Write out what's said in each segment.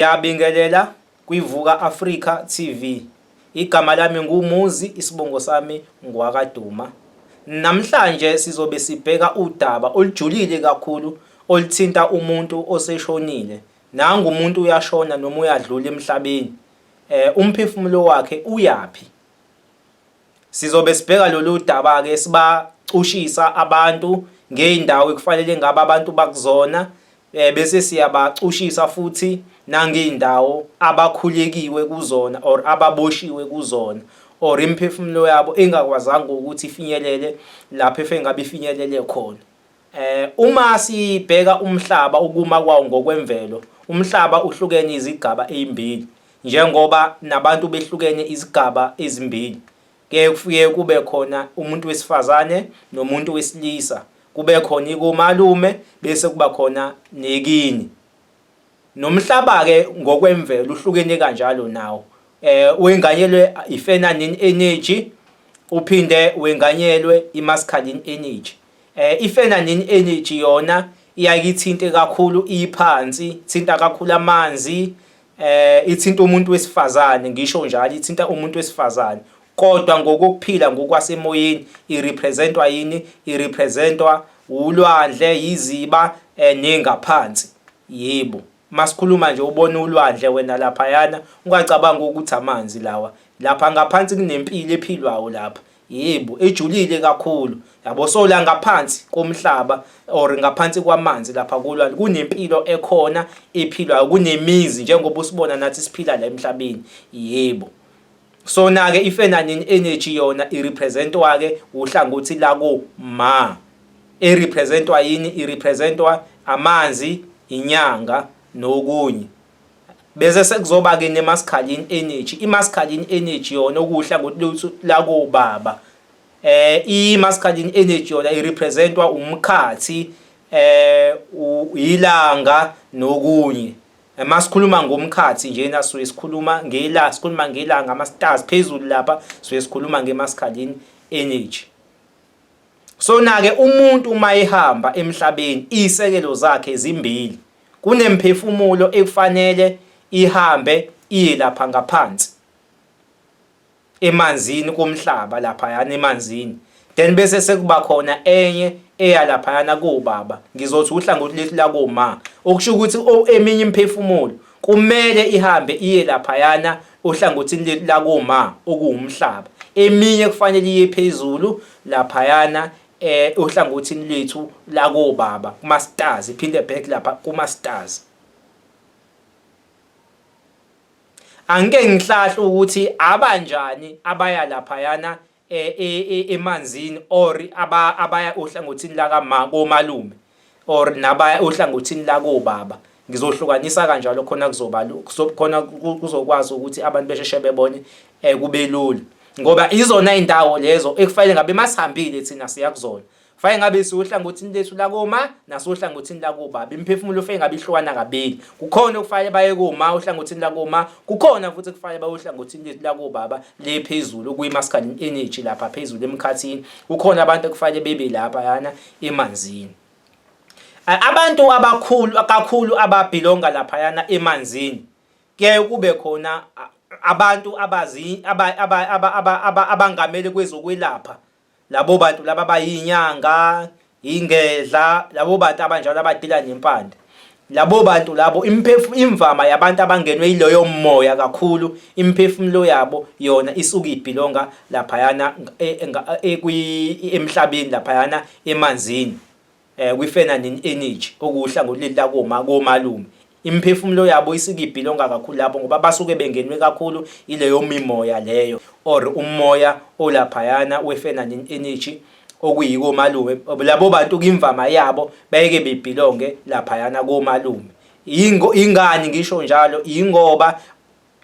Ngiyabingelela kwiVuka Africa TV. Igama lami nguMuzi, isibongo sami ngwakaDuma. Namhlanje sizobe sibheka udaba olujulile kakhulu oluthinta umuntu oseshonile. Nangu umuntu uyashona noma uyadlula emhlabeni. Eh umphefumulo wakhe uyaphi? Sizobe sibheka lolu daba-ke sibacushisa abantu ngey'ndawo ekufanele ngabe abantu bakuzona eh, bese siyabacushisa futhi nangey'ndawo abakhulekiwe kuzona or ababoshiwe kuzona or imiphefumulo yabo engakwazanga ukuthi ifinyelele lapho efengabe ifinyelele khona Eh uma sibheka umhlaba ukuma kwawo ngokwemvelo, umhlaba uhlukene izigaba ezimbili njengoba nabantu behlukene izigaba ezimbili. Kuye kufike kube khona umuntu wesifazane nomuntu wesilisa, kube khona ikomalume bese kuba khona nekini. Nomhlaba ke ngokwemvelo uhlukene kanjalo nawo. Eh wenganyelwe ifeminine energy uphinde wenganyelwe imasculine energy. Eh ifenanin energy yona iyakithinte kakhulu iphansi, thinta kakhulu amanzi, eh ithinta umuntu wesifazane ngisho njalo ithinta umuntu wesifazane. Kodwa ngokuphila ngokwasemoyeni irepresentwa yini? Irepresentwa ulwandle, yiziba eh, nengaphansi. Yebo. Masikhuluma nje ubona ulwandle wena laphayana ungacabangi ukuthi amanzi lawa. Lapha ngaphansi kunempilo ephilwayo lapha. Yebo, ejulile kakhulu. Yabo so la ngaphansi komhlaba or ngaphansi kwamanzi lapha kulwandle kunempilo ekhona ephilwayo kunemizi njengoba usibona nathi siphila la emhlabeni. Yebo. Sona-ke ifenanin energy yona irepresentwa-ke uhlangothi lako ma. Erepresentwa yini? Irepresentwa amanzi, inyanga nokunye. Bese sekuzoba-ke nemasculine energy. Imasculine energy yona okuwuhlangothi lako baba. Eh imasculine energy yona irepresentwa umkhathi eh ilanga nokunye. Uma sikhuluma ngomkhathi njena suke sikhuluma ngela sikhuluma ngela ngama stars phezulu lapha suke sikhuluma ngemascalin energy so nake umuntu uma ehamba emhlabeni isekelo zakhe ezimbili kunemphefumulo ekufanele ihambe iye lapha ngaphansi emanzini komhlaba laphayana emanzini then bese sekuba khona enye eya laphayana kobaba ngizothi uhlangothi lesi lakoma okusho ukuthi eminye imphefumulo kumele ihambe iye laphayana ohlangothini leli lakoma okuwumhlaba eminye kufanele iye phezulu laphayana eh ohlangothini lethu lakobaba kuma stars iphinde back lapha kuma stars Angike ngihlahle ukuthi abanjani abaya laphayana e, e, e, emanzini or abaya ohlangothini lakama komalume or nabaya ohlangothini lakobaba ngizohlukanisa kanjalo khona kuzoba khona kuzokwazi ukuthi abantu besheshe bebone kubelula ngoba izona indawo lezo ekufanele ngabe masihambile thina siya kuzona fake ngabe siwohlangothini lethu lakoma nasohlangothini lakuba bimphefumulo fake ngabe ihlukana kabili kukhona okufanele baye kuma uhlangothini lakoma kukhona futhi kufanele baye uhlangothini lethu lakubaba le phezulu kuyi masculine energy lapha phezulu emkhathini kukhona abantu okufanele bebe lapha yana emanzini abantu abakhulu kakhulu ababhilonga lapha yana emanzini kuyaye kube khona abantu abazi abangamele kwezokwelapha labo bantu laba bayinyanga ingedla labo bantu abanjalo abadila nempande labo bantu labo imphefumulo imvama yabantu abangenwe iloyo moya kakhulu imphefumulo yabo yona isuke ibhilonga laphayana e, e, e, emhlabeni laphayana emanzini eh, kwiFenanin Energy okuwuhlangothi leli lakoma komalume imiphefumulo yabo isikibhilonga kakhulu lapho ngoba basuke bengenwe kakhulu ileyo mimoya leyo or umoya olaphayana weFenanin Energy okuyiko malume labo bantu kimvama yabo bayeke bebhilonge laphayana komalume ingani ngisho njalo ingoba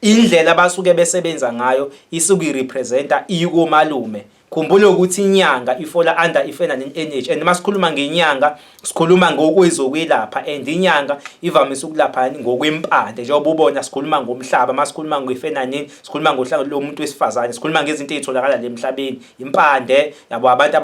Indlela abasuke besebenza ngayo isuke irepresenta ikomalume. Khumbula ukuthi inyanga ifola under i-feminine energy and masikhuluma ngenyanga sikhuluma ngokwezokwelapha and inyanga ivamise ukulapha ngokwempande njengoba ubona sikhuluma ngomhlaba masikhuluma nge-feminine sikhuluma ngohlanga lomuntu wesifazane sikhuluma ngezinto ezitholakala le mhlabeni impande yabo abantu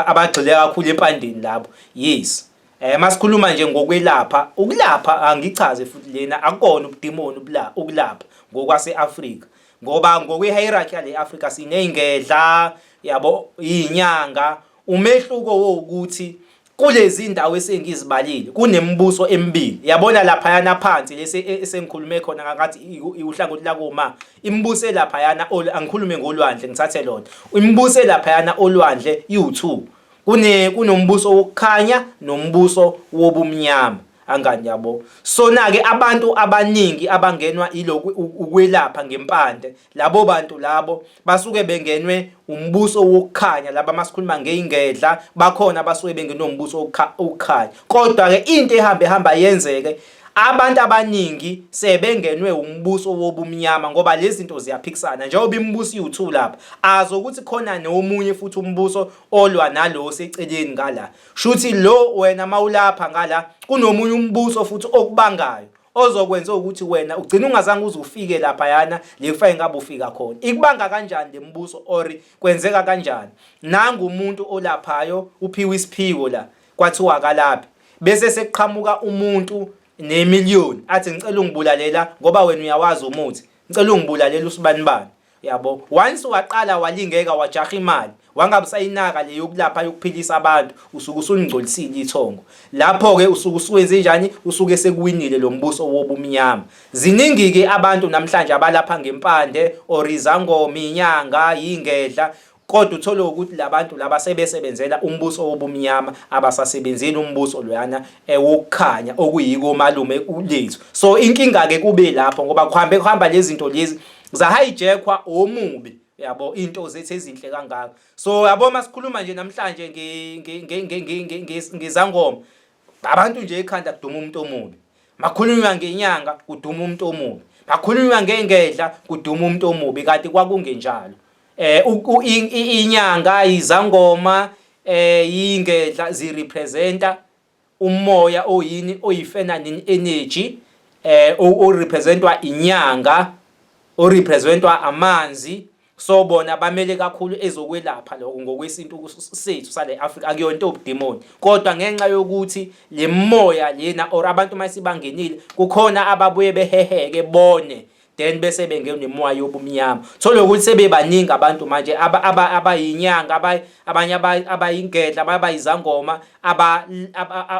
abagxile kakhulu empandeni labo yes Eh masikhuluma nje ngokwelapha, ukulapha angichaze futhi lena akukona ubudimoni ubula ukulapha ngokwaseAfrika. Ngoba ngokwehierarchy yale Africa sineyingedla, yabo iyinyanga, umehluko wokuthi kulezi ndawo esengizibalile kunemibuso emibili yabona laphayana phansi lesi e, esengikhulume khona ngakathi iwuhlangothi lakoma imibuso elaphayana angikhulume ngolwandle ngithathe lona imibuso elaphayana olwandle iwu2 kune kunombuso wokukhanya nombuso wobumnyama angani yabo sona ke abantu abaningi abangenwa iloku ukwelapha ngempande labo bantu labo basuke bengenwe umbuso wokukhanya laba masikhuluma ngeingedla bakhona basuke bengenombuso wokukhanya kodwa ke into ehambe hamba yenzeke abantu abaningi sebengenwe umbuso wobumnyama ngoba lezi zinto ziyaphikisana njengoba imibuso iwuthu lapha azokuthi khona nomunye futhi umbuso olwa nalo oseceleni ngala shuthi lo wena mawulapha ngala kunomunye umbuso futhi okubangayo ozokwenza ukuthi wena ugcina ungazange uze ufike lapha yana le kufa engabe ufika khona ikubanga kanjani lembuso or kwenzeka kanjani nangu umuntu olaphayo uphiwe isiphiwo la kwathiwa akalaphe bese sekuqhamuka umuntu nemillion athi ngicela ungibulalela ngoba wena uyawazi umuthi ngicela ungibulalela usibanibani yabo once waqala walingeka wajaha imali wangabusayinaka le yokulapha yokuphilisa abantu usuke usulingcolisile ithongo lapho ke usuke usuwenze njani usuke sekuwinile lo mbuso wobumnyama ziningi ke abantu namhlanje abalapha ngempande orizangomi inyanga ingedla Kodwa uthole ukuthi labantu laba sebesebenzela umbuso wobumnyama abasasebenzeli umbuso loyana eh, wokukhanya okuyiko malume uLethu. So inkinga ke kube lapho ngoba kuhambe kuhamba lezi zinto lezi za hijackwa omubi yabo into zethu ezinhle kangaka. So yabo masikhuluma nje namhlanje ngezangoma abantu nje ekhanda kuduma umuntu omubi. Makhulunywa ngenyanga kuduma umuntu omubi. Makhulunywa ngengedla kuduma umuntu omubi kanti kwakungenjalo. eh inyanga izangoma eh ingedla zi representa umoya oyini oyifeminine energy eh o representwa inyanga o representwa amanzi so bona bamele kakhulu ezokwelapha lokho ngokwesintu sethu sale Africa akuyona obudemoni kodwa ngenxa yokuthi le moya lena or abantu masibangenile kukhona ababuye beheheke bone then bese bengenemoya yobumnyama thole ukuthi sebebaningi abantu manje abayinyanga abanye abayingedla abanye abayizangoma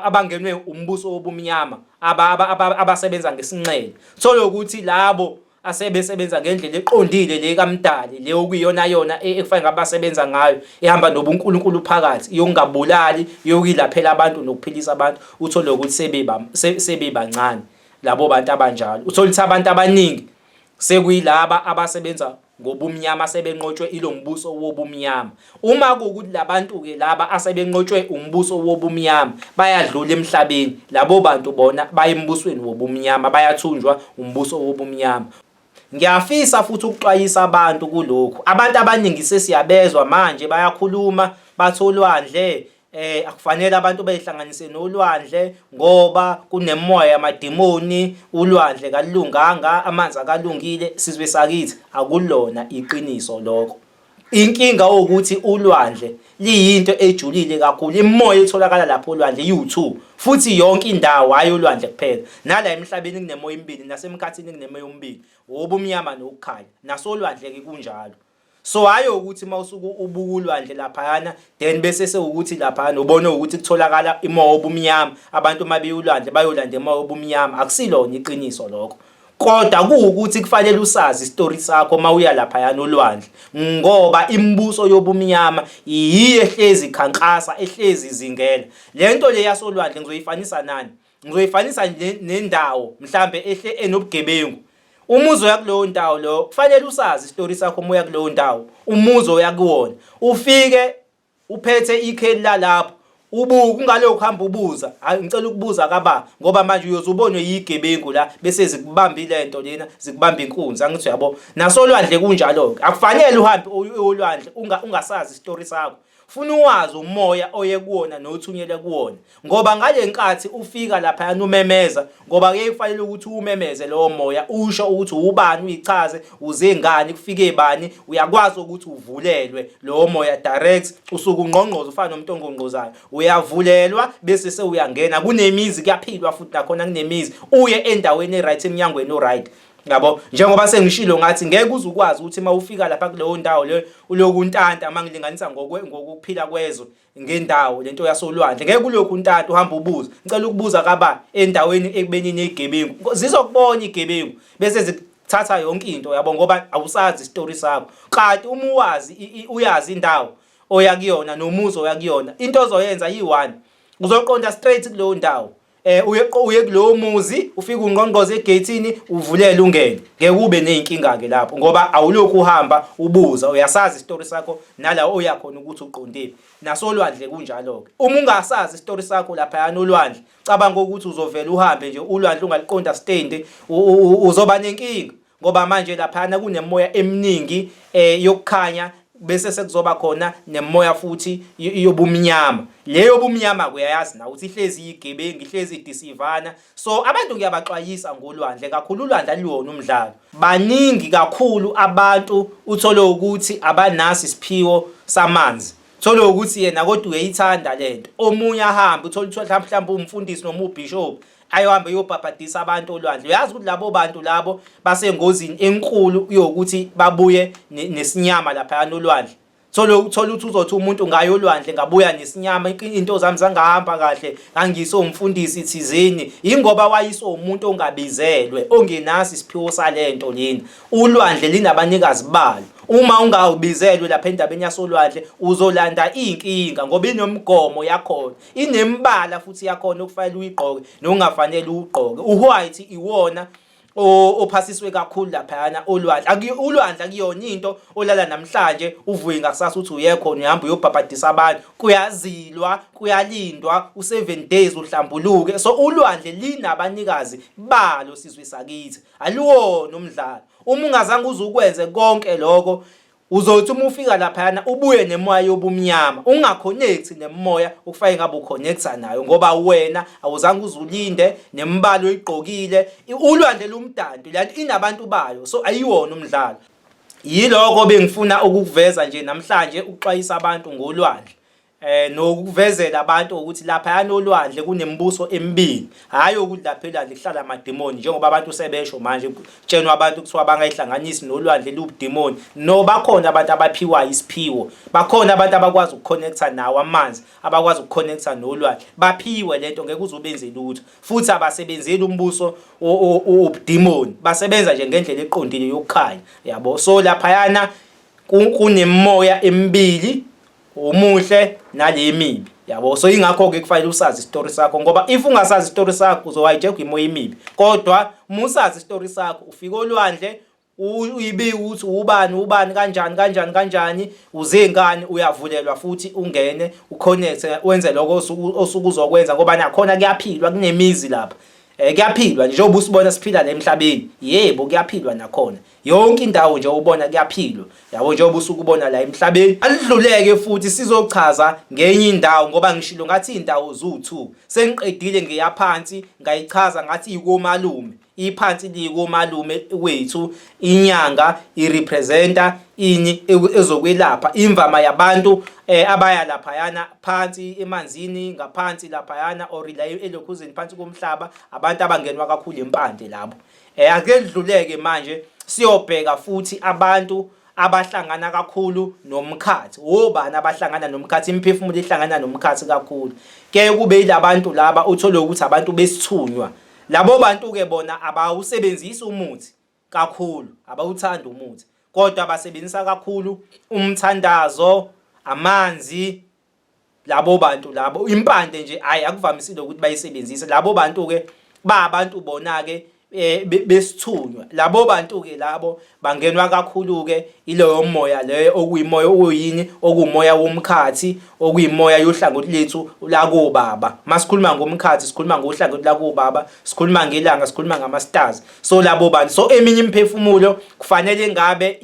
abangenwe umbuso wobumnyama abasebenza ngesinxele thole ukuthi labo asebesebenza ngendlela eqondile le kamdali le okuyiyona yona e, ekufanele ngabe basebenza ngayo ehamba nobunkulunkulu phakathi yokungabulali yokuyilaphela abantu nokuphilisa abantu uthole ukuthi sebebancane labo bantu abanjalo uthola ukuthi abantu abaningi sekuyilaba abasebenza ngobumnyama sebenqotshwe ilo mbuso wobumnyama uma kuwukuthi labantu-ke laba asebenqotshwe umbuso wobumnyama bayadlula emhlabeni labo bantu bona baye embusweni wobumnyama bayathunjwa umbuso wobumnyama ngiyafisa futhi ukuxwayisa abantu kulokhu abantu abaningi sesiyabezwa manje bayakhuluma batholwandle eh akufanele abantu beyihlanganise nolwandle ngoba kunemoya yamadimoni ulwandle kalunganga amanzi akalungile sizwe sakithi akulona iqiniso lokho inkinga ukuthi ulwandle liyinto ejulile kakhulu imoya etholakala lapho olwandle yiwu-2 futhi yonke indawo hhayi olwandle kuphela nala emhlabeni kunemoya emibili nasemkhathini kunemoya omibili wobumnyama nokukhanya nasolwandle-ke kunjalo so hayo ukuthi mawusuke ubuka ulwandle laphayana then bese sewukuthi laphayana ubone ukuthi kutholakala imoya obumnyama abantu uma beyulwandle bayolanda imoya obumnyama akusilona iqiniso lokho kodwa kuwukuthi kufanele usazi isitori sakho uma uya laphayana olwandle ngoba imibuso yobumnyama yiyo ehlezi ikhankasa ehlezi izingela le nto le yasolwandle ngizoyifanisa nani ngizoyifanisa ne- nendawo mhlambe ehle enobugebengu umuzi oya kuleyo ndawo loyo kufanele usazi isitori sakho uma uya kuleyo ndawo umuzi oya kuwona ufike uphethe ikheli lalapho ubuke ungalokhu hamba ubuza hayi ngicela ukubuza kaba ngoba manje uyoze ubonwe yigebengu la bese zikubamba ile nto lena zikubamba inkunzi angithi uyabo nasolwandle kunjalo-ke akufanele uhambe uye olwandle unga- ungasazi isitori sakho Funa uwazi umoya oye kuwona nothunyelwe kuwona ngoba ngale nkathi ufika lapha yana umemeza ngoba kuye kufanele ukuthi uwumemeze lowo moya usho ukuthi ubani uyichaze uze ngani kufike bani uyakwazi ukuthi uvulelwe lowo moya direct usuku ungqongqoza ufana nomuntu ongqongqozayo uyavulelwa bese sewuyangena kunemizi kuyaphilwa futhi nakhona kunemizi uye endaweni e-right emnyangweni o-right yabo njengoba sengishilo ngathi ngeke uze ukwazi ukuthi uma ufika lapha kuleyo ndawo le uloku untanta uma ngilinganisa ngokwe ngokuphila kwezwe ngendawo lento yasolwandle ngeke kulokhu untanta uhamba ubuza ngicela ukubuza kaba endaweni ekubeni negebengu zizokubona igebengu bese zithatha yonke into yabo ngoba awusazi istory sakho kanti uma uwazi uyazi indawo oya kuyona nomuzi oya kuyona into ozoyenza yi-one uzoqonda straight kuleyo ndawo eh uye uye kulowo muzi ufike ungqongqoze egate uvulele ungene ngeke ube nezinkinga ke lapho ngoba awulokhu uhamba ubuza uyasazi isitori sakho nala oya khona ukuthi uqondile nasolwandle kunjalo ke uma ungasazi isitori sakho lapha yana olwandle cabanga ukuthi uzovela uhambe nje ulwandle ungaliqonda stand uzoba nenkinga ngoba manje laphana kunemoya eminingi eh yokukhanya bese sekuzoba khona nemoya futhi yobumnyama leyo bumnyama kuyayazi na ukuthi ihlezi igebengu ihlezi idisivana so abantu ngiyabaxwayisa ngolwandle kakhulu ulwandle aluyona umdlalo baningi kakhulu abantu uthole ukuthi abanasi isiphiwo samanzi thole ukuthi yena kodwa uyayithanda lento omunye ahambe uthole ukuthi mhlawumbe umfundisi noma ubishop ayohambe eyobhabhadisa abantu olwandle uyazi ukuthi labo bantu labo basengozini enkulu yokuthi babuye nesinyama lapha nolwandle thola ukuthola ukuthi uzothi umuntu ngaye olwandle ngabuya nesinyama into zami zangahamba kahle ngangise umfundisi thizeni ingoba wayise umuntu ongabizelwe ongenasi isiphiwo salento lena ulwandle linabanikazi balo uma ungawubizelwe lapha endabeni yasolwandle uzolanda inkinga ngoba inomgomo yakhona inembala futhi yakhona okufanele uyigqoke nokungafanele ugqoke uwhite iwona ophasiswe kakhulu laphayana olwandle ulwandle akuyona into olala namhlanje uvuye ngakusasa uthi uye khona uhamba uyobhabhadisa abantu kuyazilwa kuyalindwa u7 days uhlambuluke so ulwandle linabanikazi balo sizwe sakithi aliwona umdlalo uma ungazange uzukwenze konke lokho Uzothi uma ufika laphayana ubuye nemoya yobumnyama ungaconnect nemoya okufanele ngabe uconnecta nayo ngoba wena awuzange uzulinde nemibala oyigqokile ulwandle lumdanti lanto inabantu bayo so ayiwona umdlalo yiloko bengifuna ukukuveza nje namhlanje ukuxwayisa abantu ngolwandle eh nokuvezela abantu ukuthi lapha yanolwandle kunemibuso emibili hayi ukuthi lapha elwandle kuhlala amademoni njengoba abantu sebesho manje kutshenwa abantu kuthiwa bangayihlanganisi nolwandle lubudemoni no bakhona abantu abaphiwa isiphiwo bakhona abantu abakwazi ukuconnecta nawo amanzi abakwazi ukuconnecta nolwandle baphiwe lento ngeke uzobenze lutho futhi abasebenzeli umbuso obudemoni basebenza nje ngendlela eqondile yokukhanya yabo so lapha yana kunemoya emibili umuhle nalemibi yabo so ingakho ke kufanele usazi isitori sakho ngoba if ungasazi isitori sakho uzohayijekwa imoya imibi kodwa uma usazi isitori sakho ufika olwandle uyibike ukuthi ubani ubani kanjani kanjani kanjani uzengani uyavulelwa futhi ungene uconnect wenze lokho osuke uzokwenza ngoba nakhona kuyaphilwa kunemizi lapha um kuyaphilwa njengoba usibona siphila la emhlabeni yebo kuyaphilwa nakhona yonke indawo nje ubona kuyaphilwa yabo njengoba usukubona la emhlabeni alidluleke futhi sizochaza ngenye indawo ngoba ngishilo ngathi indawo zu2 sengiqedile ngeyaphansi ngayichaza ngathi ikomalume iphansi likomalume wethu inyanga irepresenta ini ezokwelapha imvama yabantu eh, abaya laphayana phansi emanzini ngaphansi laphayana or la elokhuzeni phansi komhlaba abantu abangenwa kakhulu impande labo Eh ake kudluleke manje siyobheka futhi abantu abahlangana kakhulu nomkhathi obani abahlangana nomkhathi imiphefumulo ihlangana nomkhathi kakhulu ke kube ilabantu laba uthole ukuthi abantu besithunywa labo bantu ke bona abawusebenzisi umuthi kakhulu abawuthanda umuthi kodwa basebenzisa kakhulu umthandazo amanzi labo bantu labo impande nje hayi akuvamisile ukuthi bayisebenzise labo bantu ke ba abantu bona ke eh, besithunywa labo bantu ke labo bangenwa kakhulu ke ileyo moya leyo okuyimoya okuyini okumoya womkhathi okuyimoya yohlangothi lethu la kubaba masikhuluma ngomkhathi sikhuluma ngohlangothi la kubaba sikhuluma ngelanga sikhuluma ngama stars so labo bantu so eminye imphefumulo kufanele ngabe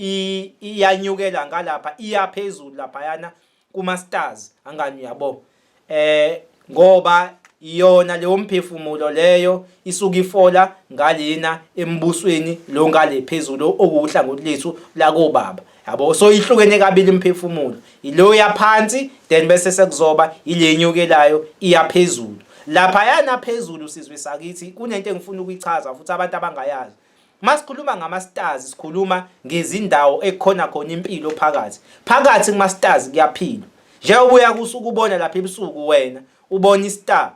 iyanyukela ngalapha iyaphezulu lapha yana kuma stars angani uyabo eh ngoba iyona leyo mphefumulo leyo isuka ifola ngalena embusweni lo ngale phezulu okuwuhlangothi lethu lakobaba yabo so ihlukene kabili imphefumulo ilo yaphansi then bese sekuzoba ilenyukelayo iyaphezulu lapha yana phezulu sizwe sakithi kunento engifuna ukuyichaza futhi abantu abangayazi Masikhuluma ngama-stars sikhuluma ngezindawo ekhona khona impilo phakathi. Phakathi kuma-stars kuyaphila. Njengoba uya kusuku ubona lapha ebusuku wena ubona i-star.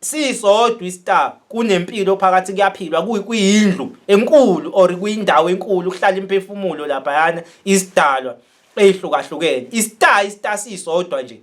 Sisodwa i-star kunempilo phakathi kuyaphilwa kuyindlu enkulu or kuyindawo enkulu kuhlala imphefumulo laphayana isidalwa eyihlukahlukene. I-star i-star sisodwa nje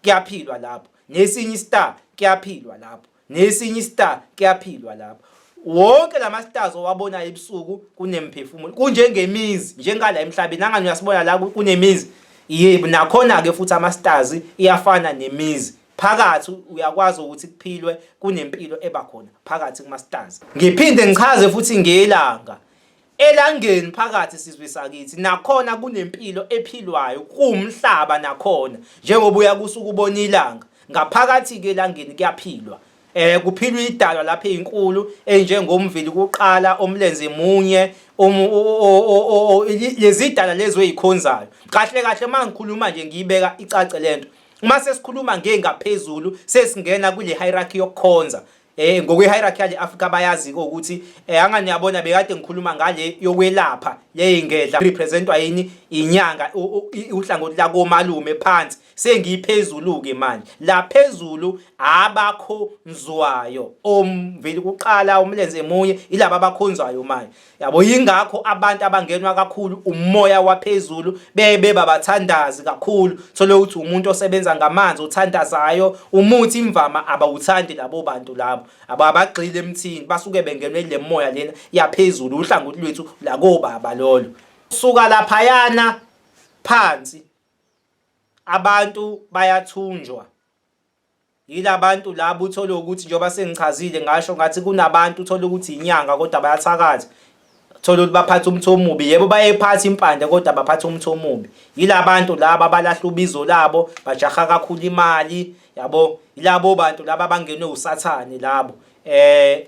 kuyaphilwa lapho nesinye istar kuyaphilwa lapho nesinye istar kuyaphilwa lapho wonke lama stars owabonayo ebusuku kunemphefumulo kunjengemizi njengala emhlabeni nangani uyasibona la kunemizi yebo nakhona ke futhi ama stars iyafana nemizi phakathi uyakwazi ukuthi kuphilwe kunempilo eba khona phakathi kuma stars ngiphinde ngichaze futhi ngelanga Elangeni phakathi sizwe sakithi nakhona kunempilo ephilwayo kuwumhlaba nakhona njengoba uyakusa ukubona ilanga ngaphakathi ke elangeni kuyaphilwa eh kuphilwa idalwa lapha ezinkulu enjengomvili kuqala omlenze munye lezidala lezo ezikhonzayo kahle kahle mangikhuluma nje ngiyibeka icace lento uma sesikhuluma ngengaphezulu sesingena kule hierarchy yokukhonza Eh ngokwe-hierarchy yale Africa bayazi ukuthi eh angani yabona bekade ngikhuluma ngale yokwelapha le ingedla representwa yini inyanga uhlangothi la komalume phansi sengiphezulu ke manje la phezulu abakhonzwayo omveli kuqala umlenze emunye ilaba abakhonzwayo manje yabo yingakho abantu abangenwa kakhulu umoya waphezulu bebe babathandazi kakhulu thole ukuthi umuntu osebenza ngamanzi uthandazayo umuthi imvama abawuthandi labo bantu labo ababagxile emthini basuke bengenwe le moya lena yaphezulu uhlangothi lwethu lakobaba lolo suka laphayana phansi abantu bayathunjwa Yilabantu laba uthole ukuthi njengoba sengichazile ngasho ngathi kunabantu uthole ukuthi inyanga kodwa bayathakatha. Thola ukuthi baphatha umthi omubi yebo bayephatha impande kodwa baphatha umthi omubi yilabantu laba abalahla ubizo labo bajaha kakhulu imali yabo yilabo bantu laba abangenwe usathane labo eh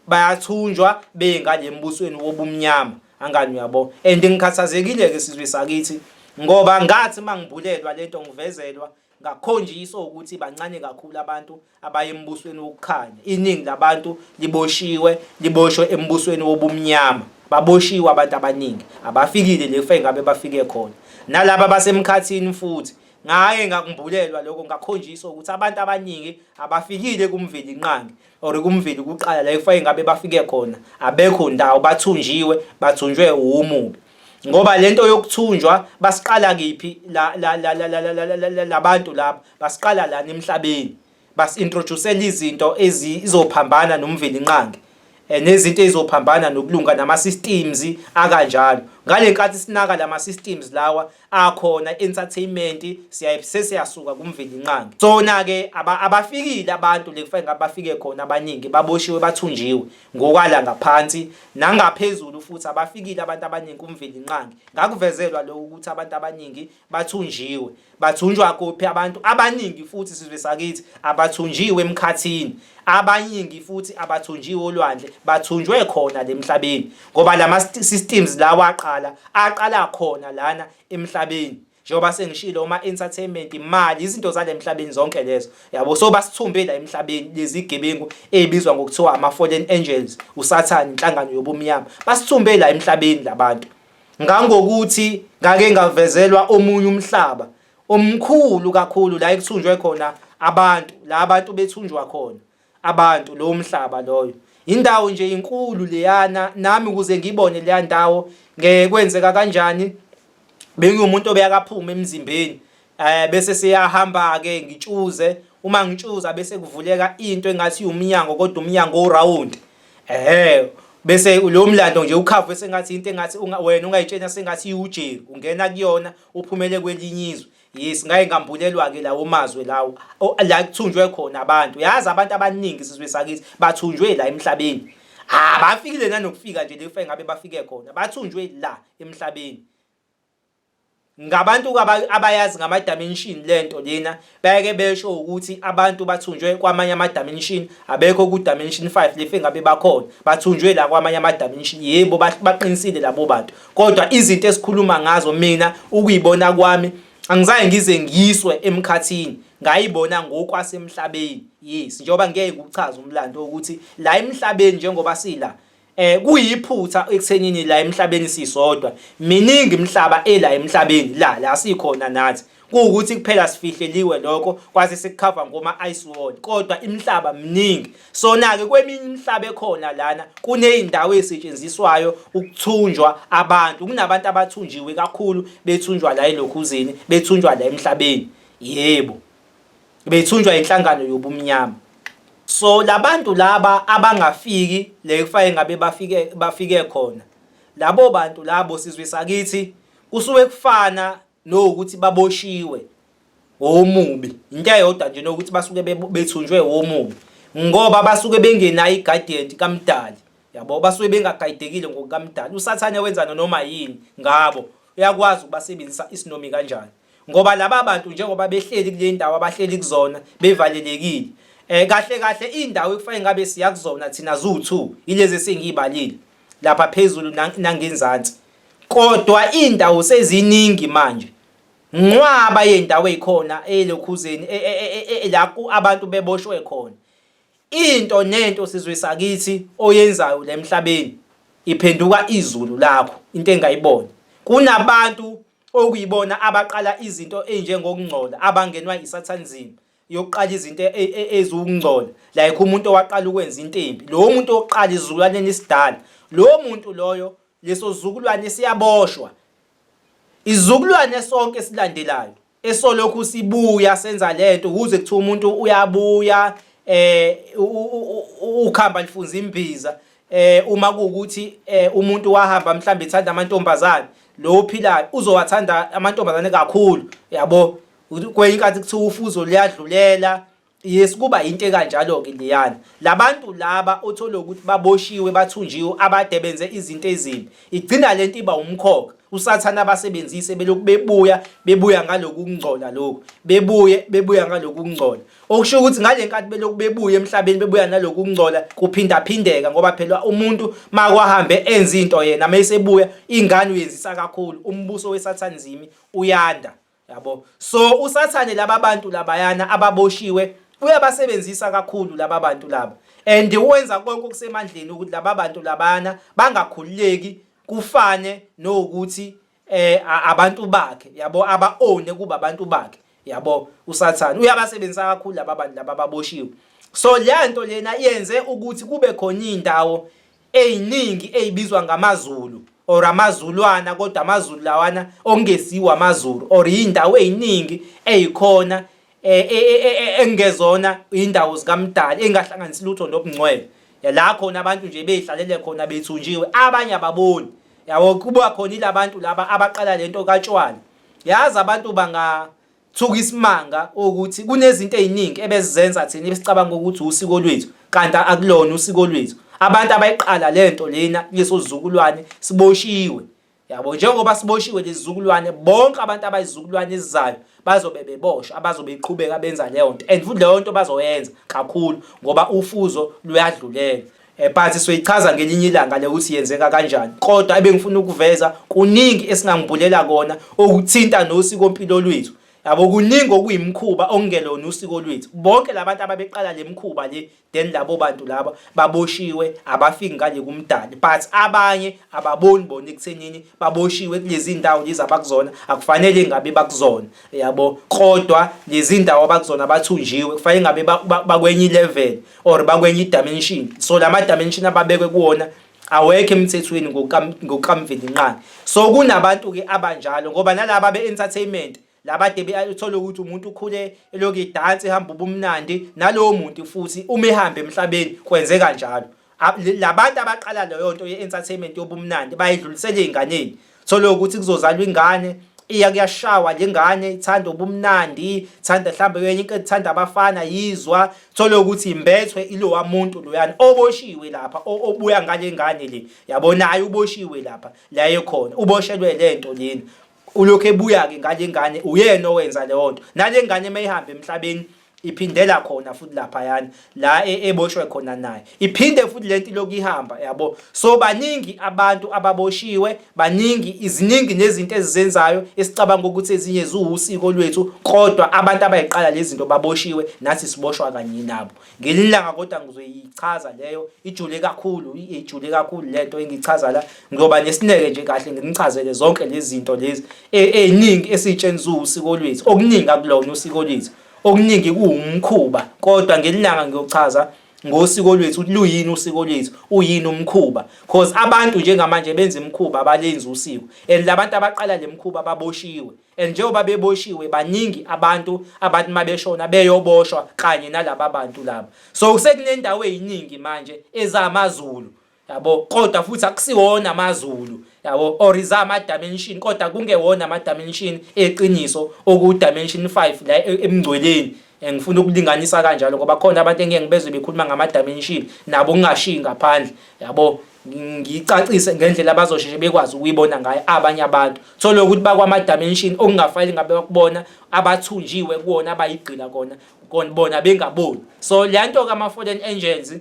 bayathunjwa bengalembusweni wobumnyama angani uyabo and ngikhathazekile ke sizwe sakithi ngoba ngathi mangibulelwa lento ngivezelwa Ngakhonjiswa ukuthi bancane kakhulu abantu abaya embusweni wokukhanya. Iningi labantu liboshiwe, liboshwe embusweni wobumnyama. Baboshiwe abantu abaningi, abafikile lefa engabe bafike khona. Nalaba basemkhathini futhi ngaye ngakumbulelwa lokho ngakhonjiswa ukuthi abantu abaningi abafikile kumvelinqangi or kumveli kuqala la ekufanele ngabe bafike khona abekho ndawo bathunjiwe bathunjwe umubi ngoba lento yokuthunjwa basiqala kiphi la la la la la labantu laba basiqala la emhlabeni basintroduce izinto ezizophambana nomveli inqangi Eh, nezinto ezizophambana nokulunga nama systems akanjalo ngalenkathi sinaka lama systems lawa akhona entertainment siyaye sesiyasuka kumveli inqangi sona ke abafikile abantu lekufanele ngabafike khona abaningi baboshiwe bathunjiwe ngokwala ngaphansi nangaphezulu futhi abafikile abantu abaningi kumveli inqangi ngakuvezelwa lokho ukuthi abantu abaningi bathunjiwe bathunjwa kuphi abantu abaningi futhi sizwe sakithi abathunjiwe emkhathini abaningi futhi abathunjiwe olwandle bathunjwe khona lemhlabeni ngoba lama systems lawa aqala aqala khona lana emhlabeni njengoba sengishilo uma entertainment imali izinto zalemhlabeni zonke lezo yabo so basithumbe la emhlabeni lezi gebengu ezibizwa ngokuthiwa ama fallen angels usathane inhlangano yobumnyama basithumbe la emhlabeni labantu ngangokuthi ngake ngavezelwa omunye umhlaba omkhulu kakhulu la ekuthunjwe khona abantu la abantu bethunjwa khona abantu lowo mhlaba loyo indawo nje inkulu leyana nami ukuze ngibone leya ndawo ngekwenzeka kanjani bengiwumuntu obeyakaphuma emzimbeni eh bese siyahamba ke ngitshuze uma ngitshuza bese kuvuleka into engathi umnyango kodwa umnyango uround ehe bese lo mlando nje ukhava bese ngathi into engathi wena ungayitshena sengathi iwujeri ungena kuyona uphumele kwelinye izwe Yes ngaye ngambulelwa ke lawo mazwe lawo la kuthunjwe khona abantu yazi abantu abaningi sizwe sakithi bathunjwe la emhlabeni ah bafikile nanokufika nje lefa ngabe bafike khona bathunjwe la emhlabeni ngabantu abayazi ngama dimension lento lena bayake besho ukuthi abantu bathunjwe kwamanye ama dimension abekho ku dimension 5 lefe ngabe bakhona bathunjwe la kwamanye ama dimension yebo baqinisile labo bantu kodwa izinto esikhuluma ngazo mina ukuyibona kwami angizange ngize ngiyiswe emkhathini ngayibona ngokwasemhlabeni yes njengoba ngeke ukuchaza umlando ukuthi la emhlabeni njengoba sila eh kuyiphutha ekuthenini la emhlabeni sisodwa miningi imhlaba ela emhlabeni la la sikhona nathi kuwukuthi kuphela sifihleliwe lokho kwase sikukhava ngoma ice wall kodwa imhlaba mningi sona ke kweminye imhlaba ekhona lana kuneyindawo ezisetshenziswayo ukuthunjwa abantu kunabantu abathunjiwe kakhulu bethunjwa la elokhuzini bethunjwa la emhlabeni yebo bethunjwa inhlangano yobumnyama so labantu laba abangafiki le kufanele ngabe bafike bafike khona labo bantu labo sizwe sakithi kusuke kufana no ukuthi baboshiwe womubi into eyodwa nje nokuthi basuke bethunjwe womubi ngoba basuke bengenayo i-guidance kamdali yabo basuke bengagayidekile ngokukamdali usathane wenza noma yini ngabo uyakwazi ukubasebenzisa isinomi kanjani ngoba laba bantu njengoba behleli kule ndawo abahleli kuzona bevalelekile eh kahle kahle indawo ekufanele ngabe siya kuzona thina zu2 ilezi sengiyibalile lapha phezulu nangenzansi Kodwa indawo seziningi manje. Nqwaba yendawo ezikhona elokhuzeni e, e, e, la abantu beboshwe khona. Into nento sizwe sakithi oyenzayo lemhlabeni iphenduka izulu lakho into engayibona. Kunabantu okuyibona abaqala izinto ezinjengokungcola abangenwa isathanizimi. yokuqala izinto e, e, e, eziwukungcola like umuntu owaqala ukwenza into embi lowo muntu oqala izizukulwaneni isidala lowo muntu loyo leso zukulwane siyaboshwa izukulwane sonke silandelayo esolokhu sibuya senza lento ukuze kuthiwa umuntu uyabuya eh ukhamba lifunza imbiza eh uma kuukuthi eh, umuntu wahamba mhlawumbe ethanda amantombazane lo ophilayo uzowathanda amantombazane kakhulu yabo kwenye inkathi kuthiwa ufuzo luyadlulela yes kuba into ekanjalo ke liyana labantu laba othole ukuthi baboshiwe bathunjiwe abade benze izinto ezimbi igcina lento iba umkhokha usathana abasebenzise beloku bebuya bebuya ngaloku kungcola lokho bebuye bebuya ngaloku kungcola okusho ukuthi ngalenkathi beloku bebuya emhlabeni bebuya naloku kungcola kuphinda phindeka ngoba phela umuntu makwahambe enza into yena mayesebuya ingane uyenzisa kakhulu umbuso wesathana zimi uyanda yabo so usathane laba bantu labayana ababoshiwe uyabasebenzisa kakhulu laba bantu laba and wenza konke okusemandleni ukuthi laba bantu labana bangakhululeki kufane nokuthi eh abantu bakhe yabo aba own kuba abantu bakhe yabo usathane uyabasebenzisa kakhulu laba bantu laba baboshiwe so le nto lena yenze ukuthi kube khona indawo eyiningi eyibizwa ngamaZulu or amaZulwana kodwa amaZulu lawana okungesiwo amaZulu or indawo eyiningi eyikhona eh, eh, eh, engezona indawo zikaMdali engahlanganisi lutho nobungcwele la khona abantu nje beyihlalele khona bethunjiwe abanye ababoni yabo kuba khona ilabantu laba abaqala lento katshwala yazi abantu banga Thuka isimanga ukuthi kunezinto eziningi ebezizenza thina ebesicabanga ukuthi usiko lwethu kanti akulona usiko lwethu. Abantu abayiqala lento lena leso zizukulwane siboshiwe. Yabo njengoba siboshiwe lezizukulwane bonke abantu abayizukulwane ezizayo bazobe beboshwa abazobe iqhubeka benza leyo nto and futhi leyo nto bazoyenza kakhulu ngoba ufuzo luyadlulela. Eh, but soyichaza ngelinye ilanga le ukuthi yenzeka kanjani kodwa ebengifuna ukuveza kuningi esingangibhulela kona okuthinta nosiko mpilo lwethu yabo kuningi okuyimkhuba okungelona usiko lwethu bonke labantu ababeqala lemkhuba le then labo bantu laba baboshiwe abafiki ngale kumdali but abanye ababoni bona ekuthenini baboshiwe kulezi ndawo lezi abakuzona akufanele ngabe bakuzona yabo kodwa lezi ndawo abakuzona bathunjiwe kufanele ngabe bakwenye level or bakwenye idimension so lama dimension ababekwe kuwona awekho emthethweni ngokukamveli nqani so kunabantu ke abanjalo ngoba nalaba be entertainment labade bethola ukuthi umuntu ukhule eloku idansi ehamba ubumnandi nalowo muntu futhi uma ehamba emhlabeni kwenzeka njalo labantu abaqala leyo nto ye-entertainment yobumnandi bayidlulisele ey'nganeni thole ukuthi kuzozalwa ingane iya kuyashawa le ngane ithanda ubumnandi ithanda mhlawumbe kwenye into ethanda abafana yizwa thole ukuthi imbethwe ilowa muntu loyana oboshiwe lapha obuya ngale ngane le yabonayo uboshiwe lapha la ekhona uboshelwe le nto lena ulokhu ebuya-ke ngale ngane uyena owenza leyo nto nale ngane uma ihambe emhlabeni iphindela khona futhi laphayana la e, eboshwe khona naye iphinde futhi lento lokhu ihamba yabo so baningi abantu ababoshiwe baningi iziningi nezinto ezizenzayo esicabanga ukuthi ezinye ziwusiko lwethu kodwa abantu abayiqala lezi zinto baboshiwe nathi siboshwa kanye nabo ngelilanga kodwa ngizoyichaza leyo ijule kakhulu ijule kakhulu lento engichaza la ngiyoba nesineke nje kahle nginichazele zonke lezi zinto lezi eziningi e, esitshenziwa usiko lwethu okuningi akulona usiko lwethu okuningi kuwumkhuba kodwa ngelilanga ngiyochaza ngosiko lwethu ukuthi luyini usiko lwethu uyini umkhuba cause abantu njengamanje benza imikhuba abalenzi usiko and labantu abaqala lemkhuba baboshiwe and njengoba beboshiwe baningi abantu abathi mabeshona beyoboshwa kanye nalaba bantu laba so sekunendawo eziningi manje ezamaZulu yabo kodwa futhi akusiwona amazulu yabo or is ama dimension kodwa kungewona ama dimension eqiniso oku dimension 5 la e, emngcweleni engifuna ukulinganisa kanjalo ngoba khona abantu engeke ngibezwe bekhuluma ngama dimension nabo kungashiyi ngaphandle yabo ngicacise ngendlela abazosheshe bekwazi ukuyibona ngayo abanye abantu thole ukuthi bakwama dimension okungafanele ngabe bakubona abathunjiwe kuwona abayigqila kona kona bona bengaboni so le nto kama fallen angels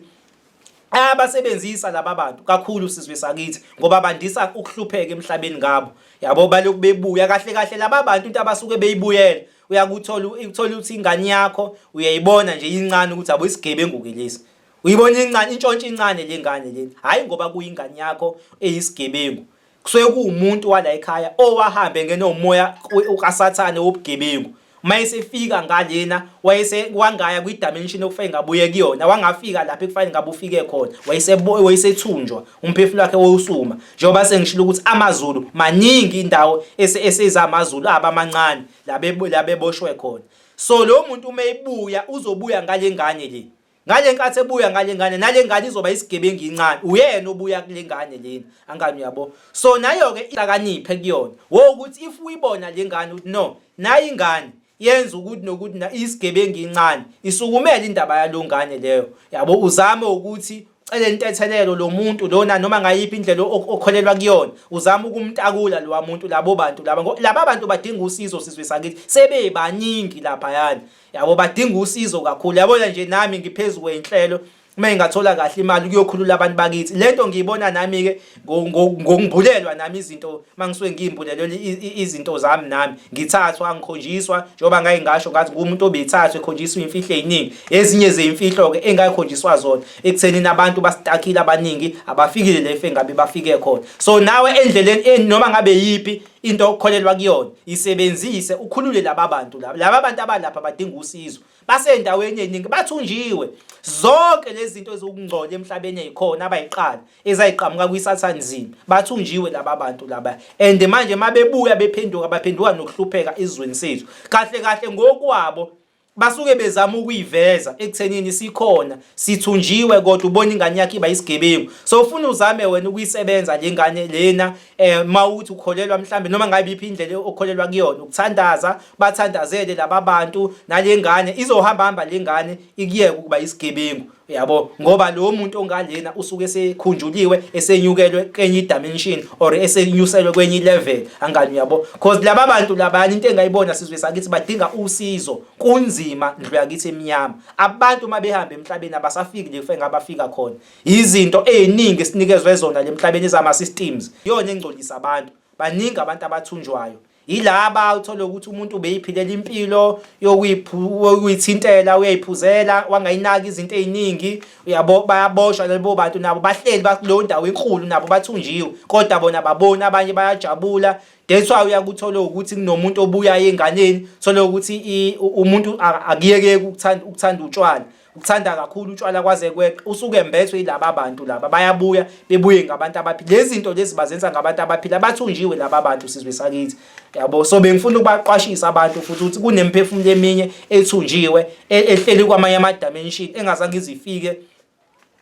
ayabasebenzisa laba bantu kakhulu sizwe sakithi ngoba bandisa ukuhlupheka emhlabeni ngabo yabo baloku bebuya kahle kahle laba bantu into abasuke beyibuyela uyakuthola ukuthola ukuthi ingane yakho uyayibona nje incane ukuthi abo isigebengu ke lesi uyibona incane intshontshe incane lengane leni hayi ngoba kuyingane yakho eyisigebengu kusuke kuwumuntu wala ekhaya owahambe ngene umoya ukasathane wobugebengu mayesefika ngalena wayese wangaya kwi dimension okufanele ngabuye kuyona wangafika lapha ekufanele ngabe ufike khona wayese wayesethunjwa umphefumulo wakhe wosuma njengoba sengishilo ukuthi amazulu maningi indawo eseza amazulu abamancane labe labeboshwe khona so lo muntu uma ebuya uzobuya ngalengane le ngale nkathi ebuya ngale ngane nale ngane izoba isigebengu incane uyena obuya kule ngane lena angani uyabo so nayo-ke ilakaniphe kuyona wo ukuthi if uyibona le ngane ukuthi no nayi ingane yenza ukuthi nokuthi na isigebengu incane isukumele indaba yalo ngane leyo yabo uzame ukuthi cele intethelelo lo muntu lona noma ngayiphi indlela okholelwa kuyona uzama ukumtakula lowa muntu labo bantu laba laba bantu badinga usizo sizwe sakithi sebebaningi lapha yani yabo badinga usizo kakhulu yabona nje nami ngiphezu kwenhlelo uma ingathola kahle imali kuyokhulula abantu bakithi lento ngiyibona nami ke ngokungibulelwa nami izinto mangisuke ngiyimbulelwa izinto zami nami ngithathwa ngikhonjiswa njengoba ngaye ngasho ngathi kumuntu obethathwe ekhonjiswa imfihlo eziningi ezinye zeimfihlo ke engayikhonjiswa zona ekutheni nabantu basitakile abaningi abafikile lefe ngabe bafike khona so nawe endleleni noma ngabe yipi into okholelwa kuyona isebenzise ukhulule laba bantu laba laba bantu abalapha badinga usizo basendaweni eningi bathunjiwe zonke lezi zinto ezokungcola emhlabeni ezikhona abayiqala ezayiqhamuka kwisathane nzima bathunjiwe laba bantu laba and manje mabebuya bephenduka baphenduka nokuhlupheka izweni sethu kahle kahle ngokwabo basuke bezama ukuyiveza ekuthenini sikhona sithunjiwe kodwa ubona ingane yakhe iba isigebengu so ufuna uzame wena ukuyisebenza le ngane lena eh mawuthi ukholelwa mhlambe noma ngabe iphi indlela okholelwa kuyona ukuthandaza bathandazele laba bantu nale ngane izohamba hamba le ngane ikuyeke ukuba isigebengu yabo ngoba lo muntu ongalena usuke esekhunjuliwe esenyukelwe kwenye idimension or esenyuselwe kwenye ilevel angani yabo because laba bantu labanye into engayibona sizwe sakithi badinga usizo kunzima ndlu yakithi emnyama abantu uma behamba emhlabeni abasafiki lefe ngabafika khona izinto eziningi sinikezwe zona lemhlabeni zama systems yona engcolisa abantu baningi abantu abathunjwayo yilaba uthole ukuthi umuntu ubeyiphilela impilo yokuyithintela uyayiphuzela wangayinaki izinto eziningi uyabo bayaboshwa labo bantu nabo bahleli bakuleyo ndawo enkulu nabo bathunjiwe kodwa bona babona abanye bayajabula that's why uyakuthola ukuthi kunomuntu obuyayo enganeni thole ukuthi umuntu akuyeke ukuthanda ukuthanda utshwala ukuthanda kakhulu utshwala kwaze kweqe usuke embethwe yilaba bantu laba bayabuya bebuye ngabantu abaphila lezi zinto lezi bazenza ngabantu abaphila bathunjiwe laba bantu sizwe sakithi yabo so bengifuna ukubaqwashisa abantu futhi ukuthi kunemphefumulo eminye ethunjiwe e, ehleli kwamanye ama dimension engazange izifike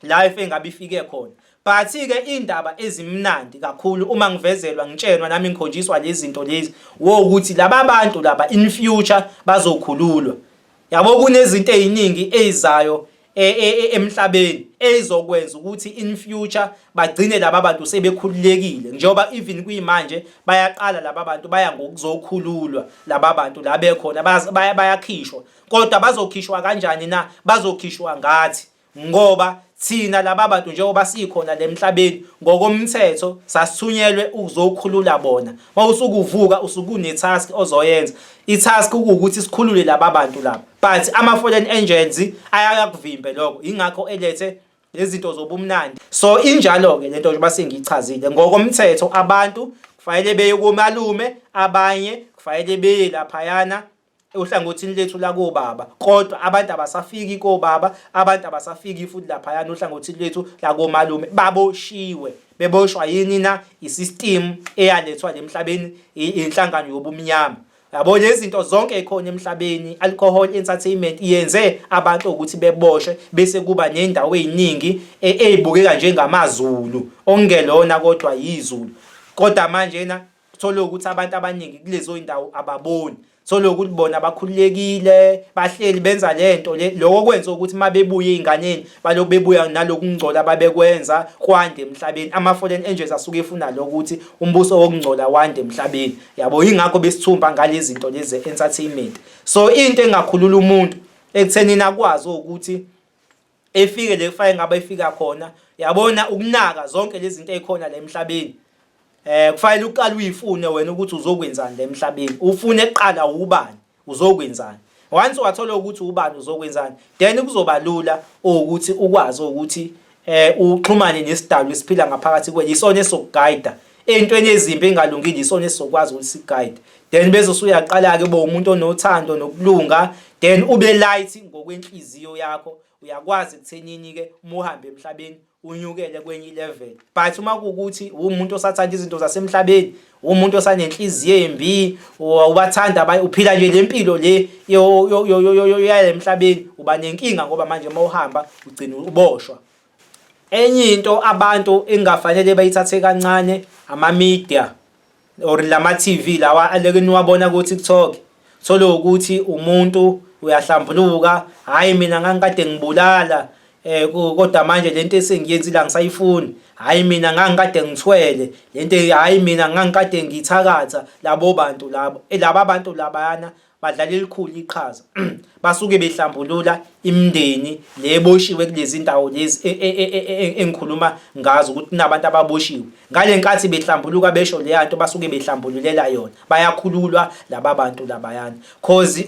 life engabe ifike khona but ke indaba ezimnandi kakhulu uma ngivezelwa ngitshenwa nami ngikhonjiswa lezi zinto lezi wo ukuthi laba bantu laba in future bazokhululwa yabo kunezinto eziningi ezizayo e, e, e, emhlabeni ezokwenza ukuthi in future bagcine laba bantu sebekhululekile njengoba even kuyimanje bayaqala laba bantu baya ngokuzokhululwa laba bantu la bekhona bayakhishwa kodwa bazokhishwa kanjani na bazokhishwa ngathi ngoba thina laba bantu njengoba sikhona lemhlabeni ngokomthetho sasithunyelwe ukuzokhulula bona mawusukuvuka usukune task ozoyenza i task ukuthi sikhulule laba bantu laba but ama foreign angels ayakuvimbe lokho ingakho elethe lezinto zobumnandi so injalo ke lento nje basengichazile ngokomthetho abantu kufanele beye komalume abanye kufanele beye laphayana ohlangothini lethu lakobaba kodwa abantu abasafiki kobaba abantu abasafiki futhi laphayana ohlangothini lwethu lakomalume baboshiwe beboshwa yini na isystem eyalethwa lemhlabeni inhlangano yobumnyama yabo lezinto zonke ekhona emhlabeni alcohol entertainment yenze abantu ukuthi beboshwe bese kuba nendawo eziningi e, ezibukeka njengamazulu ongelona kodwa yizulu kodwa manje na uthole ukuthi abantu abaningi kulezo indawo ababoni thole ukuthi bona bakhululekile bahleli benza lento le lokho kwenza ukuthi mabebuye einganeni baloku bebuya nalokungcola ababekwenza kwande emhlabeni ama foreign angels asuke efuna lokuthi umbuso wokungcola wande emhlabeni yabo ingakho besithumba ngalezi zinto lezi entertainment so into engakhulula umuntu ekuthenini akwazi ukuthi efike le kufanele ngabe efika khona yabona ukunaka zonke lezi zinto ezikhona la emhlabeni eh kufanele uqale uyifune wena ukuthi uzokwenzani la emhlabeni ufune kuqala ubani uzokwenzani once wathola ukuthi ubani uzokwenzani then kuzoba lula ukuthi ukwazi ukuthi eh uxhumane nesidalwa esiphila ngaphakathi kwe yisona esokugayida ey'ntweni ezimbi engalungile isona esizokwazi ukuthi si-guide then bese usuyaqala-ke uba umuntu onothando nokulunga then ube light ngokwenhliziyo yakho uyakwazi ekuthenini-ke uma uhambe emhlabeni unyukele kwenye ilevel but uma kuwukuthi uwumuntu osathanda izinto zasemhlabeni uwumuntu osanenhliziyo embi ubathanda abanye uphila nje le mpilo le yale mhlabeni uba nenkinga ngoba manje uma uhamba ugcina uboshwa Enye into abantu engafanele bayithathe kancane ama-media or lama-TV lawa aleke niwabona ku-TikTok thole ukuthi umuntu uyahlambuluka hayi mina ngangikade ngibulala eh kodwa manje lento esengiyenzile angisayifuni hayi mina ngangikade ngithwele lento hayi mina ngangikade ngithakatha labo bantu labo eh, laba bantu labayana badlala elikhulu iqhaza basuke behlambulula imindeni le boshiwe kulezi ndawo lezi e, e, e, engikhuluma ngazo ukuthi nabantu ababoshiwe ngale nkathi behlambuluka besho leya nto basuke behlambululela yona bayakhululwa laba bantu labayana cause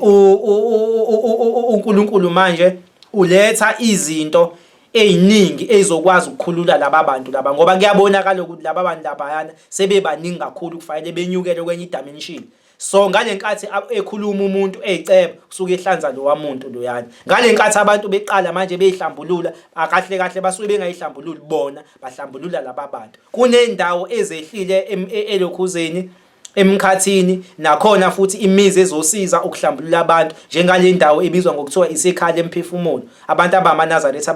uNkulunkulu manje uletha izinto eziningi ezokwazi ukukhulula laba bantu laba ngoba kuyabonakala ukuthi laba bantu labayana sebebaningi kakhulu kufanele benyukele kwenye idimension so ngale nkathi ekhuluma umuntu eyiceba kusuke ehlanza lowa muntu loyana ngale nkathi abantu beqala manje beyihlambulula akahle kahle basuke bengayihlambululi bona bahlambulula laba bantu kunendawo ezehlile e, elokhuzeni emkhathini nakhona futhi imizi ezosiza ukuhlambulula abantu njengale ndawo ebizwa ngokuthiwa isekhala emphefumulo abantu abamanazaretha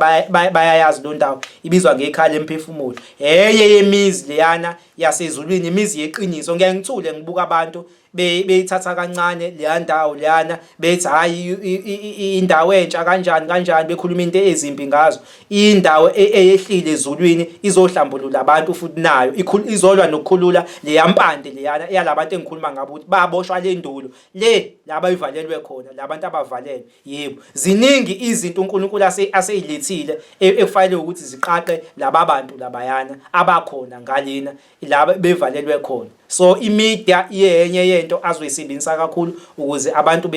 bayayazi lo ndawo ibizwa ngekhala emphefumulo heye yemizi leyana yasezulwini imizi yeqiniso ngeke ngithule ngibuka abantu beyithatha kancane leya ndawo leyana bethi hhayi indawo entsha kanjani kanjani bekhuluma into ezimbi ngazo indawo e, eyehlile ezulwini izohlambulula abantu futhi nayo izolwa nokukhulula leya mpande leyana yalabantu engikhuluma ngabo ukuthi baboshwa le ndulo le la bayivalelwe khona labantu abavalelwe Yebo, ziningi izinto uNkulunkulu ase aseyilethile e, ekufanele ukuthi ziqaqe laba bantu labayana abakhona ngalena laba bevalelwe khona. So imedia iyenye yento azoyisebenzisa kakhulu ukuze abantu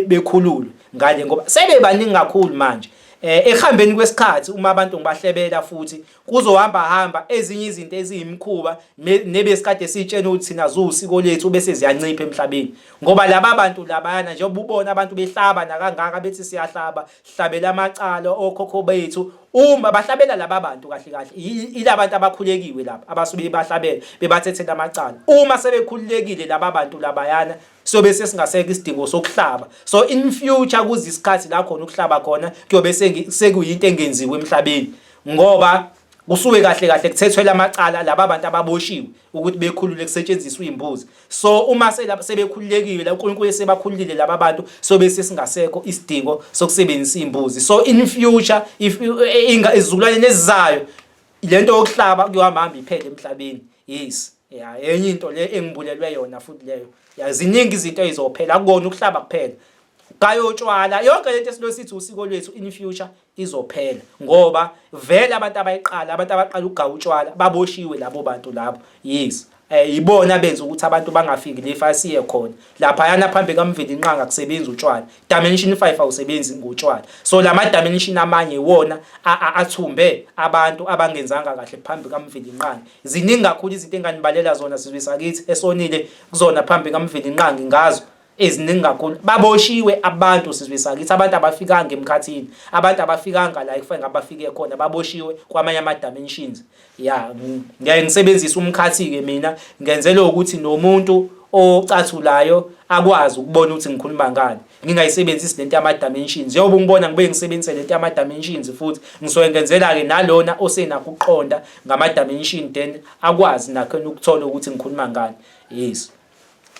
bekhululwe ngale ngoba sebebaningi kakhulu manje. Eh ehambeni kwesikhathi uma abantu ngibahlebela futhi kuzohamba hamba ezinye izinto eziyimkhuba nebesikade sitshena ukuthi thina ziwusiko lethu bese ziyancipha emhlabeni ngoba laba bantu labayana njengoba ubona abantu behlaba nakangaka bethi siyahlaba hlabela amacala okhokho bethu uma bahlabela laba bantu kahle kahle ilabantu abakhulekiwe laba abasuke bahlabela bebathethela amacala uma sebekhululekile laba bantu labayana sobe sesingaseka isidingo sokuhlaba so in future kuze isikhathi la khona ukuhlaba khona kuyobe sekuyinto engenziwe emhlabeni ngoba kusuke kahle kahle kuthethwe lamacala laba bantu ababoshiwe ukuthi bekhulule kusetshenziswa imbuzi so uma sebekhululekile la uNkulunkulu sebakhululile laba bantu so bese singasekho isidingo sokusebenzisa imbuzi so in future if eh, inga izizukulwane nezizayo lento yokuhlaba kuyohamba hamba iphele emhlabeni yes ya enye into le engibulelwe yona futhi leyo yaziningi izinto ezizophela akukona ukuhlaba kuphela kayotshwala yonke lento esilosithi usiko lwethu in future izophela ngoba vele abantu abayiqala abantu abaqala ukugawa utshwala baboshiwe labo bantu labo yes eh ibona benza ukuthi abantu bangafiki lefa asiye khona lapha yana phambi kamveli inqanga kusebenza utshwala dimension 5 awusebenzi ngotshwala so lama dimension amanye iwona athumbe abantu abangenzanga kahle phambi kamveli inqanga ziningi kakhulu izinto enganibalela zona sizwe sakithi esonile kuzona phambi kamveli inqanga ngazo eziningi kakhulu baboshiwe abantu sizwe sakithi abantu abafikanga emkhathini abantu abafikanga la ekufanele abafike khona baboshiwe kwamanye ama dimensions ya ngiyaye ngisebenzisa umkhathi ke mina ngenzela ukuthi nomuntu ocathulayo akwazi ukubona ukuthi ngikhuluma ngani ngingayisebenzisi lento yama dimensions yoba ungibona ngibe ngisebenzise lento yama dimensions futhi ngisuke ngenzela ke nalona osenakho ukuqonda ngama dimension then akwazi nakho ukuthola ukuthi ngikhuluma ngani yes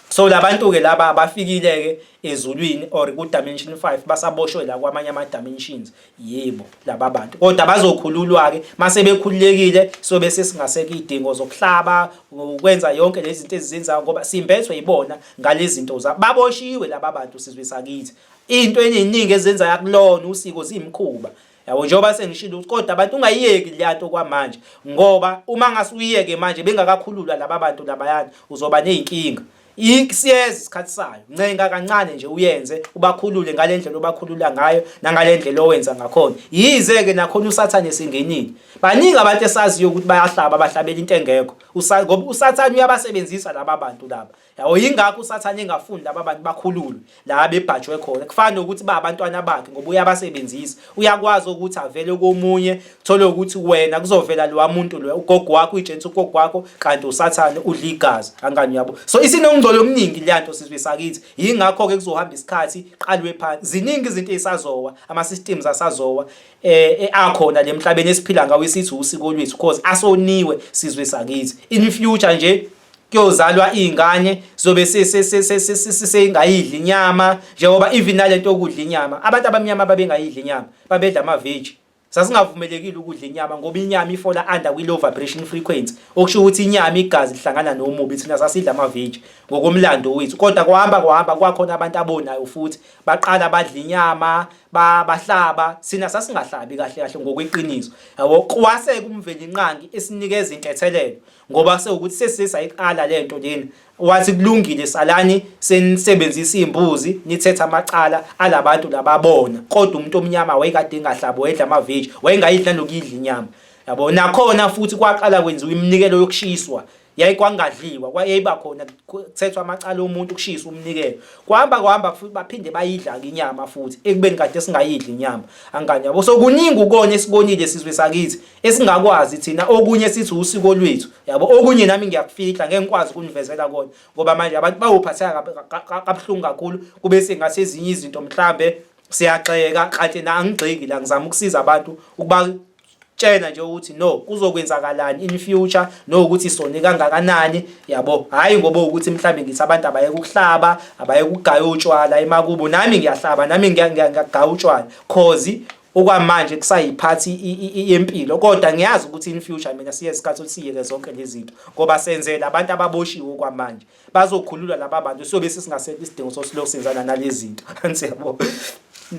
so labantu ke laba bafikile ke ezulwini or ku dimension 5 basaboshwe la kwamanye ama dimensions yebo laba bantu kodwa bazokhululwa ke mase bekhululekile so bese singaseke idingo zokuhlaba ukwenza yonke lezi zinto ezizenzayo ngoba simbethwe yibona ngalezi zinto za baboshiwe laba bantu sizwe sakithi into eningi ezenza yakulona usiko zimkhuba yabo njengoba sengishilo ukuthi kodwa abantu ungayiyeki le nto kwamanje ngoba uma ngase uyiyeke manje bengakakhululwa laba bantu labayana uzoba ney'nkinga siyeza isikhathi sayo ncenga kancane nje uyenze ubakhulule ngale ndlela obakhulula ngayo nangale ndlela owenza ngakhona yize-ke nakhona usathane esingenile baningi abantu esaziyo ukuthi bayahlaba bahlabela into engekho ngoba usathane uyabasebenzisa laba bantu laba Yawo yingakho usathane engafundi laba bantu bakhululwe la bebhajwe khona. Kufana nokuthi ba abantwana bakhe ngoba uyabasebenzisa. Uyakwazi ukuthi avele komunye thole ukuthi wena kuzovela lo muntu lo ugogo wakho uyijensi ugogo wakho kanti usathane udla igazi angani yabo. So isinongcolo omningi leyanto sizwe sakithi. Yingakho ke kuzohamba isikhathi qalwe phansi. Ziningi izinto ezisazowa ama systems asazowa eh, eh akhona lemhlabeni esiphila ngawo isithi usiko lwethu because asoniwe sizwe sakithi. In future nje kuyozalwa iy'ngane zobe seyingayidli inyama njengoba even nalento yokudla inyama abantu abamnyama babengayidli inyama babedla amaveji sasingavumelekile ukudla inyama ngoba inyama ifola under kwi-low vibration frequency okusho ukuthi inyama igazi lihlangana nomubi thina sasidla amaveji ngokomlando wethu kodwa kuhamba kuhamba kwakhona abantu abonayo futhi baqala badla inyama bahlaba sina sasingahlabi kahle kahle ngokweqiniso yabo kwase kumvelinqangi esinikeza intethelelo ngoba sewukuthi sesise sayiqala le nto lena wathi kulungile salani senisebenzisa iy'mbuzi nithethe amacala alabantu lababona kodwa umuntu omnyama wayekade engahlabi wayedla amaveji wayengayidla nokuyidla inyama yabo nakhona futhi kwaqala kwenziwa iminikelo yokushiswa yayikwangadliwa kwayeyiba khona kuthethwa amacala omuntu kushisa umnikelo kwahamba kwahamba futhi baphinde bayidla-ke inyama futhi ekubeni kade singayidli inyama angani yabo so kuningi ukona esibonile sizwe sakithi esingakwazi thina okunye sithi usiko lwethu yabo okunye nami ngiyakufihla ngeke ngikwazi ukunivezela kona ngoba manje abantu bawuphatheka kabuhlungu kakhulu kube sengase ezinye izinto mhlambe siyaxeka kanti na angigxeki la ngizama ukusiza abantu ukuba tshena nje ukuthi no kuzokwenzakalani in future no ukuthi sone kangakanani yabo hayi ngoba ukuthi mhlambe ngithi abantu abaye ukuhlaba abaye ukugaya utshwala emakubo nami ngiyahlaba nami ngiyagaya utshwala cause okwamanje kusayiphathi yempilo kodwa ngiyazi ukuthi in future mina siye isikhathi usiyeke zonke lezi zinto ngoba senzela abantu ababoshiwe okwamanje bazokhululwa laba bantu sobe sesingasekho isidingo sosilokhu senzana nalezi zinto angisiyabo